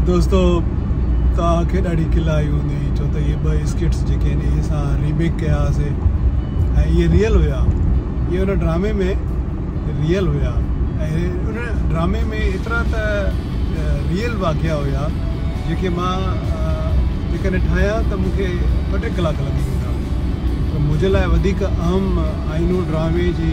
دوستو توهان کي ڏاڍي کل آئي هوندي ڇو ته اهي ٻه اسڪٽس جيڪي آهن اهي اسان ريميڪ ڪيا هئاسي ۽ اهي ريل هيا اهي ان ڊرامي ۾ ريل هيا ۽ ان ڊرامي ۾ ايترا ته ريل واقعا هيا جيڪي مان جيڪڏهن ٺاهيان ته مون کي ٻه ٽي ڪلاڪ لڳي ويندا پر منهنجي لاء وڌيڪ اهم آئينو ڊرامي جي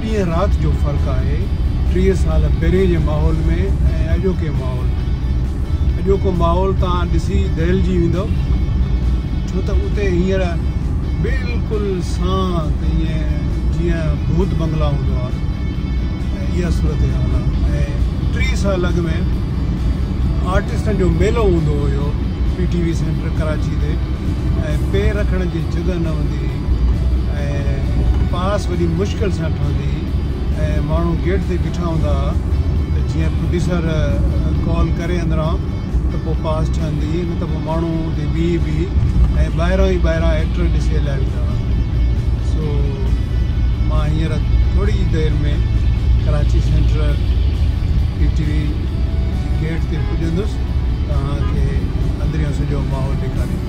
ڏينهن رات جو فرق آهي، ٽيهه سال پهرين جي ماحول ۾ ۽ اڄوڪي ماحول ۾. اڄوڪو ماحول توهان ڏسي دهلجي ويندؤ، ڇو ته اتي هينئر بلڪل سانت ائين جيئن ڀوت بنگلا هوندو آهي ۽ اها صورتحال آهي ۽ ٽيهه سال اڳ ۾ آرٽسٽن جو ميلو هوندو هيو P T V centre Karachi تي ۽ پير رکڻ جي جڳهه نه هوندي هئي. ۽ پاس وڏي مشڪل سان ٺهندي هئي ۽ ماڻهو گيٽ تي بيٺا هوندا ها ته جيئن پروڊيوسر ڪال ڪري اندران ته پوء پاس ٺهندي هئي نه ته پوء ماڻهو اتي بيهي بيهي ۽ ٻاهران ئي ٻاهران ايڪٽر ڏسي هليا ويندا هئا سو مان هينئر ٿوري ئي دير ۾ Karachi centre P T V جي گيٽ تي پڄندس توهان کي اندريون سڄو ماحول ڏيکاريندس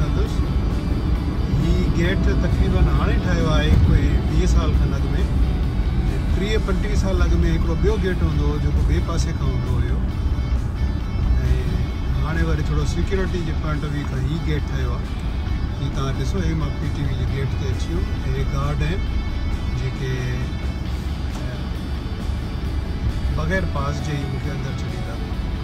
ڪندس. هي گيٽ تقريباً هاڻي ٺاهيو آهي ڪوئي ويهه سال کن اڳ ۾ ۽ ٽيهه پنٽيهه سال اڳ ۾ هڪڙو ٻيو گيٽ هوندو هو جيڪو ٻئي پاسي کان هوندو هيو ۽ هاڻي وري ٿورو سيڪيورٽي جي پوائنٽ آف ويو کان هي گيٽ ٺهيو آهي جي توهان ڏسو هي مان پي ٽي وي جي گيٽ تي اچي ويم ۽ هي گارڊ آهن جيڪي بغير پاس جي ئي مون کي اندر ڇڏيندا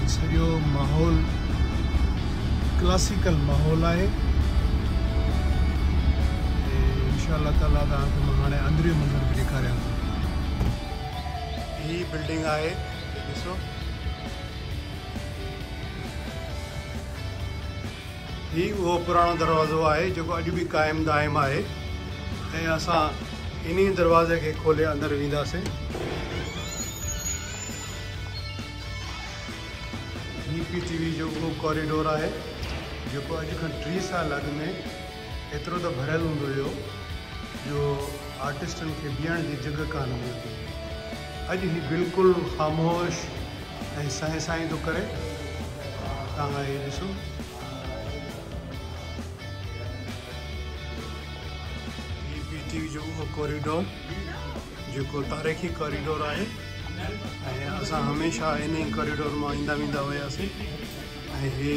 ۽ سڄو ماحول ڪلاسيڪل ماحول آهي ۽ انشاء الله تعالٰي توهان کي مان هاڻي اندريون منظر به ڏيکاريان ٿو هي بلڊنگ آهي ڏسو هي اهو پراڻو دروازو آهي جيڪو اڄ به قائم دائم آهي ۽ اسان انهي دروازي کي کولي اندر وينداسين. هي پي ٽي وي جو اهو ڪاريڊور آهي جيڪو اڄ کان ٽيهه سال اڳ ۾ ايترو ته ڀريل هوندو هيو جو آرٽسٽن کي بيهڻ جي جڳهه ڪانه ملندي هئي. اڄ هي بلڪل خاموش ۽ سائين سائين ٿو ڪري. توهان هي ڏسو. هي پي ٽي وي جو اهو ڪوريڊور جيڪو تاريخي ڪوريڊور آهي ۽ اسان هميشه انهي ڪوريڊور مان ايندا ويندا هياسين ۽ هي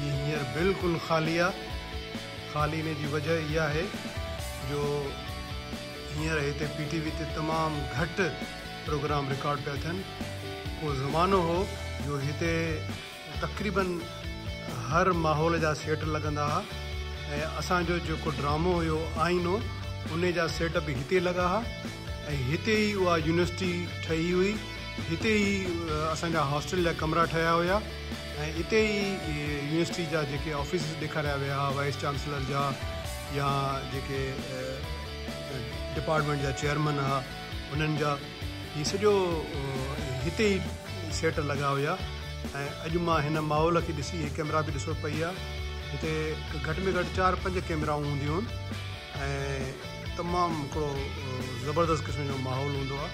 هي هينئر بلڪل خالي آ. خالي هئڻ جي وجه اها آهي جو هينئر هتي پي ٽي وي تي تمام گهٽ پروگرام رڪارڊ پيا ٿين. ڪو زمانو هو جو هتي تقريباً هر ماحول جا سيٽ لڳندا ها ۽ اسان جو جيڪو ڊرامو هيو آئينو انهي جا سيٽ به هتي لڳا ها ۽ هتي ئي اها يونيورسٽي ٺهي هئي. هتي ئي اسان جا هاسٽل جا ڪمرا ٺاهيا هيا ۽ اتي ئي يونيورسٽي جا جيڪي آفيسز ڏيکاريا ويا ها وائيس چانسلر جا يا جيڪي ڊپارٽمينٽ جا چيئرمن ها انهن جا هي سڄو هتي ئي سيٽ لڳا هيا ۽ اڄ مان هن ماحول کي ڏسي هي ڪيمرا به ڏسو پئي ها هتي گهٽ ۾ گهٽ چار پنج ڪيمرائون هونديون هن ۽ تمام هڪڙو زبردست قسم جو ماحول هوندو آ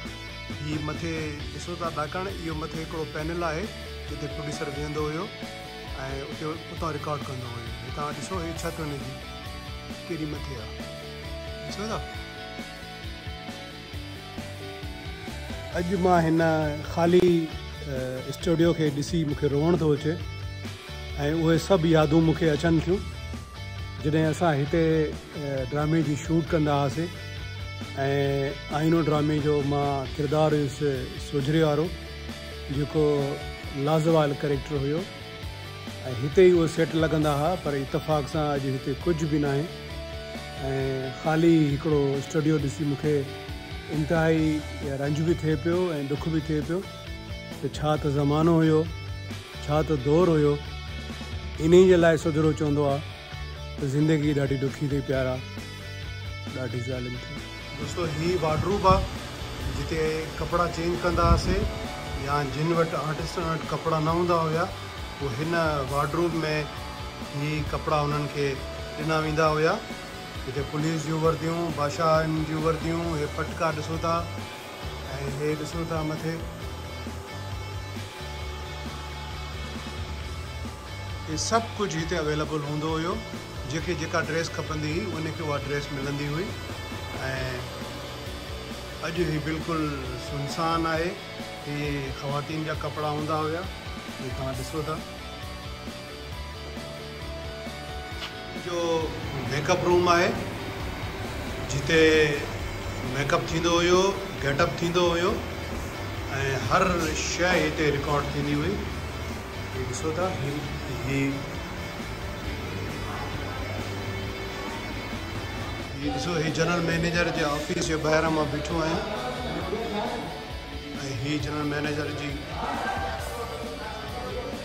هي مٿي ڏسو ٿا ڏاڪڻ اهو مٿي هڪڙو پينل آهي جتي پروڊيوسر ويهندو هيو ۽ اتي اتان رڪارڊ ڪندو هيو هتان ڏسو هي ڇت هن جي ڪيڏي مٿي آ ڏسو ٿا اڄ مان هن خالي اسٽوڊيو کي ڏسي مونکي روئڻ ٿو اچي ۽ اهي سڀ يادون مونکي اچن ٿيون جڏهن اسان هتي ڊرامي جي شوٽ ڪندا هئاسين ۽ آئينو ڊرامي جو مان ڪردار هيس سوجهري وارو جيڪو لازوال ڪريڪٽر هيو ۽ هتي ئي اهي سيٽ لڳندا ها پر اتفاق سان اڄ هتي ڪجهه به ناهي ۽ خالي هڪڙو اسٽوڊيو ڏسي مون کي انتهائي رنج به ٿئي پيو ۽ ڏک به ٿئي پيو ته ڇا ته زمانو هيو ڇا ته دور هيو انهي جي لاء سڌرو چوندو آهي ته زندگي ڏاڍي ڏکي ٿي پيارا ڏاڍي ظالم ٿي دوستو هي وارڊروب آ جتي ڪپڙا چينج ڪندا هئاسي يا جن وٽ آرٽسٽن وٽ ڪپڙا نه هوندا هيا پوء هن وارڊروب ۾ هي ڪپڙا انهن کي ڏنا ويندا هيا هتي پوليس جون ورديون بادشاهن جون ورديون هي پٽڪا ڏسو ٿا ۽ هي ڏسو ٿا مٿي هي سڀ ڪجهه هتي اويليبل هوندو هيو جيڪي جيڪا ڊريس کپندي هئي ان کي اها ڊريس ملندي هئي ۽ اڄ هي بلڪل سنسان آهي هي خواتين جا ڪپڙا هوندا هيا جي توهان ڏسو ٿا جو ميڪ اپ روم آهي جتي ميڪ اپ ٿيندو هيو گيٽ اپ ٿيندو هيو ۽ هر شيء هتي رڪارڊ ٿيندي هئي هي ڏسو ٿا هي هي هي ڏسو هي جنرل مئنيجر جي آفيس جي ٻاهران مان بيٺو آهيان ۽ هي جنرل مئنيجر جي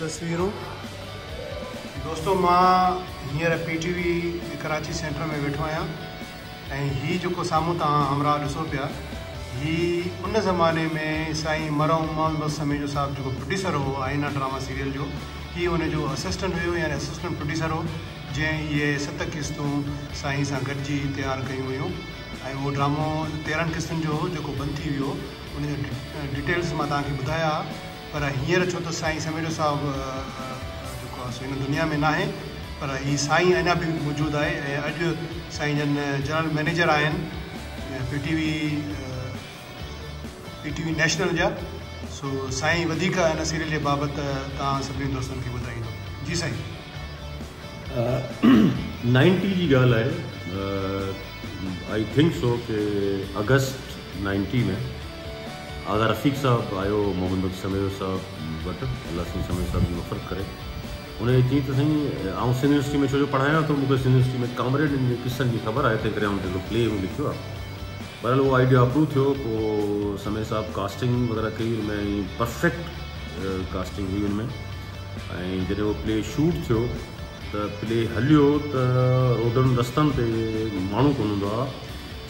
تصويرون دوستو مان هينئر P T V Karachi centre ۾ ويٺو آهيان ۽ هي جيڪو سامهون توهان همراهه ڏسو پيا هي ان زماني ۾ سائين مرحوم محمد بخش سميجو صاحب جيڪو پروڊيوسر هو آئينا ڊراما سيريل جو هي ان جو اسسٽنٽ هيو يعني اسسٽنٽ پروڊيوسر هو جنهن اهي ست قسطون سائين سان گڏجي تيار ڪيون هيون ۽ اهو ڊرامو تيرهن قسطن جو هو جيڪو بند ٿي ويو ان جا ڊيٽيلز مان توهان کي ٻڌايا پر هينئر ڇو ته سائين سميرو صاحب جيڪو آهي سو هن دنيا ۾ ناهي پر هي سائين اڃا به موجود آهي ۽ اڄ سائين جن جنرل مئنيجر آهن P T V P T V national جا سو سائين وڌيڪ ان سيريل جي بابت توهان سڀني دوستن کي ٻڌائيندو جي سائين نائنٽي جي ڳالهه آهي آئي ٿنڪ سو ڪي اگسٽ نائنٽي ۾ آغا رفيق صاحب آيو هو محمد بخش سميو صاحب وٽ الله سائين سميو صاحب جي مغفرت ڪري ان کي چيائين ته سائين آئون سنڌ يونيورسٽي ۾ ڇو جو پڙهايان ٿو مون کي سنڌ يونيورسٽي ۾ ڪامريڊن جي قصن جي خبر آهي تنهن ڪري آئون هڪڙو پلي هو لکيو آهي بهرحال اهو آئيڊيا اپروو ٿيو پوء سميو صاحب ڪاسٽنگ وغيره ڪئي ان ۾ پرفيڪٽ ڪاسٽنگ هئي ان ۾ ۽ جڏهن اهو پلي شوٽ ٿيو ته پلي هليو ته روڊن رستن تي ماڻهو ڪونه هوندا هئا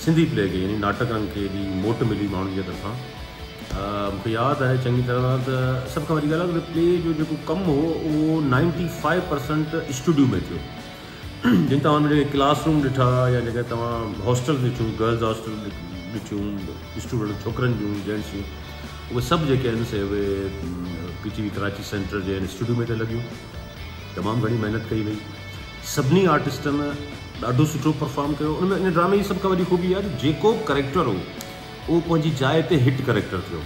سنڌي پلي کي يعني ناٽڪن کي ايڏي موٽ ملي ماڻهن جي طرفان مونکي ياد آهي چڱي طرح سان ته سڀ کان وڏي ڳالهه آهي ته پلي جو جيڪو ڪم هو اهو نائنٽي فائيو پرسنٽ اسٽوڊيو ۾ ٿيو جن توهان جيڪي ڪلاس روم ڏٺا يا جيڪي توهان هاسٽل ڏٺيون گرلز هاسٽل ڏٺيون اسٽوڊنٽ ڇوڪرن جون جينٽس جون اهي سڀ جيڪي آهن سي اهي P T V Karachi centre جي اسٽوڊيو ۾ ته لڳيون تمام گهڻي محنت ڪئي وئي سڀني آرٽسٽن ڏاڍو سٺو پرفارم ڪيو ان ۾ ان ڊرامي جي سڀ کان وڏي خوبي اها آهي ته جيڪو به ڪريڪٽر هو اهو پنهنجي جاء تي هٽ ڪريڪٽر ٿيو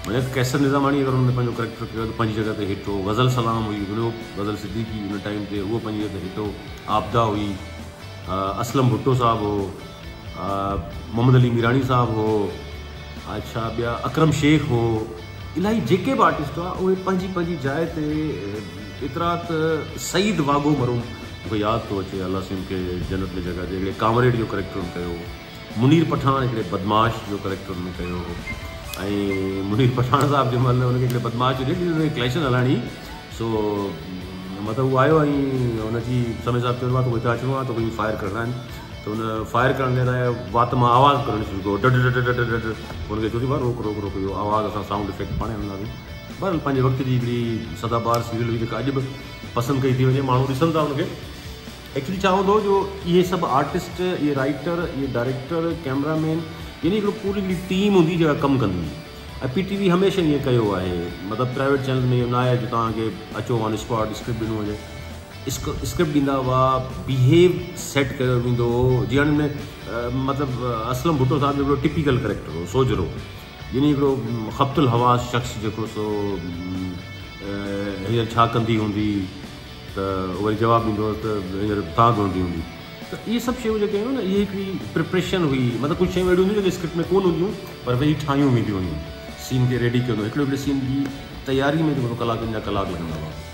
مطلب قيصر نظاماڻي اگر ان ۾ پنهنجو ڪريڪٽر ڪيو ته پنهنجي جڳهه تي هٽ هو غزل سلام هئي ورو غزل صديقي ان ٽائيم تي اهو پنهنجي جڳهه تي هٽ هو آبدا هئي اسلم ڀٽو صاحب هو محمد علي ميراڻي صاحب هو اڇا ٻيا اڪرم شيخ هو الاهي جيڪي به آرٽسٽ هئا اهي پنهنجي پنهنجي جاء تي ايترا ته سعيد واگو مرحوم مونکي ياد ٿو اچي الله سين کي جنت ۾ جڳهه ڏي هڪڙي ڪامريڊ جو ڪريڪٽر هن ڪيو منير پٺاڻ هڪڙي بدمعاش جو ڪريڪٽر هن ڪيو هو ۽ منير پٺاڻ صاحب جي مهل هن کي هڪڙي بدمعاش جو ڏي هن ڪليشن هلاڻي سو مطلب هو آيو ۽ هن جي سمي صاحب چيو ته هتي اچڻو آهي ته هي فائر ڪرڻا آهن ته هن فائر ڪرڻ کان سواء وات مان آواز ڪرڻ شروع ڪيو ڊڊ ڊڊ ڊڊ ڊڊ ڊڊ هن کي چوسي ڀاء روڪ روڪ روڪ اهو آواز اسان سائونڊ افيڪٽ پاڻهي هڻنداسين بهرحال پنهنجي وقت جي هڪڙي سدا بهار سيريل هئي جيڪا اڄ به پسند ڪئي ٿي وڃي ماڻهو ڏسن ٿا هن کي ايڪچولي ڇا هوندو جو اهي سڀ آرٽسٽ اهي رائٽر اهي ڊائريڪٽر ڪيمرا مين يعني هڪڙو پوري هڪڙي ٽيم هوندي جيڪا ڪم ڪندي هئي ۽ پي ٽي وي هميشه ائين ڪيو آهي مطلب پرائيويٽ چينل ۾ اهو نه آهي جو تهان کي اچو آن اسپاٽ اسڪرپٽ ڏنو وڃي اسڪرپٽ ڏيندا هئا بيهيو سيٽ ڪيو ويندو هو جيان ۾ مطلب اسلم ڀٽو صاحب هڪڙو ٽپيڪل ڪريڪٽر هو سوجهرو يعني هڪڙو خبت الحواس شخص جيڪو سو هيئر ڇا ڪندي هوندي ته وري جواب ڏيندو هو ته هيئر تان ڌوندي هوندي ته اهي سڀ شيون جيڪي هيون نه اهي هڪڙي پريپريشن هئي مطلب ڪجهه شيون اهڙيون هونديون جيڪي اسڪرپٽ ۾ ڪون هونديون پر ويهي ٺاهيون وينديون هيون سين کي ريڊي ڪيو هڪڙي هڪڙي سين جي تياري ۾ جيڪو ڪلاڪن جا ڪلاڪ لڳندا هئا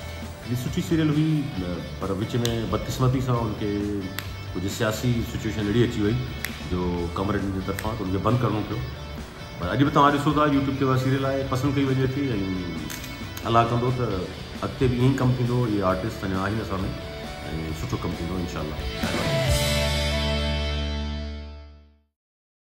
جي سٺي سيريل هئي پر وچ ۾ بدقسمتي سان ان کي ڪجهه سياسي سچويشن اهڙي اچي وئي جو ڪامريڊن جي طرفان ته ان کي بند ڪرڻو پيو پر اڄ به توهان ڏسو ٿا يوٽيوب تي اها سيريل آهي پسند ڪئي وڃي ٿي ۽ الله ڪندو ته اڳتي به ائين ئي ڪم ٿيندو اهي آرٽسٽ اڃا آهن اسان ۾ ۽ سٺو ڪم ٿيندو انشاء الله